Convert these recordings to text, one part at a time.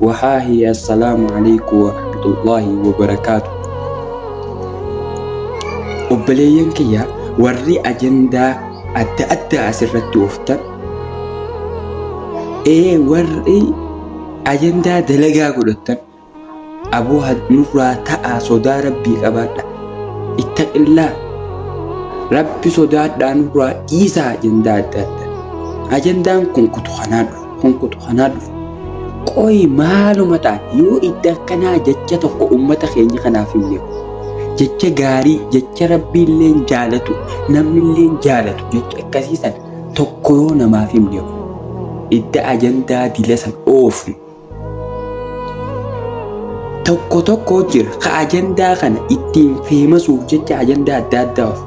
Wahaahi Assalaamu Aleeyku Warahmatullaahi Wabarakaatu Obboleeyyan kiyya warri ajandaa adda addaa asirratti ooftan ee warri ajandaa dalagaa godhattan aboo nurraa ta'aa sodaa rabbii qabaadha ittaqillaa rabbi sodaadhaa nurraa dhiisaa ajandaa adda addaa ajandaan kun kutu kanaa dhufu Kun kutu kanaa dhufu. Qoyi maaluma ta'an yoo idda akkanaa jecha tokko ummata keenya kanaaf himne jecha gaarii jecha rabbiilleen jaalatu namnilleen jaalatu jecha akkasii san tokko yoo namaaf himne idda ajandaa dila san oofnu tokko tokko jira ka ajandaa kana ittiin feemasuuf jecha ajandaa adda addaa oofu.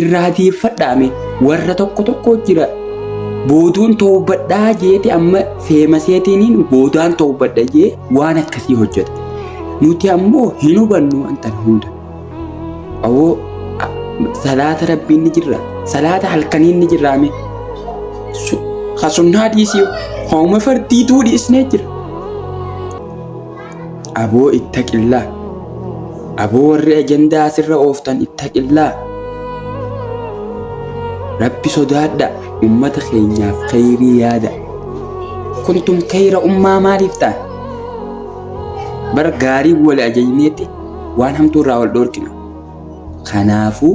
irraa deeffadhaame warra tokko tokko jira booduun toobadhaa jeeti amma feemaseetiiniin boodaan toobadha jee waan akkasii hojjeta nuti ammoo hin hubannu wanta hunda awoo salaata rabbiin ni jirra salaata halkaniin ni jirraame hasunnaa dhiisii hooma fardiituu dhiisnee jira Aboo ittaqillah. Aboo warri ajandaa asirra ooftan ittaqillah. Rabbi sodaadha ummata keenyaaf kheyrii yaada. Kuntum kheyra ummaa maaliif ta'an? Bara gaarii wal ajajneetti waan hamtuu irraa wal dhoorkina. Kanaafuu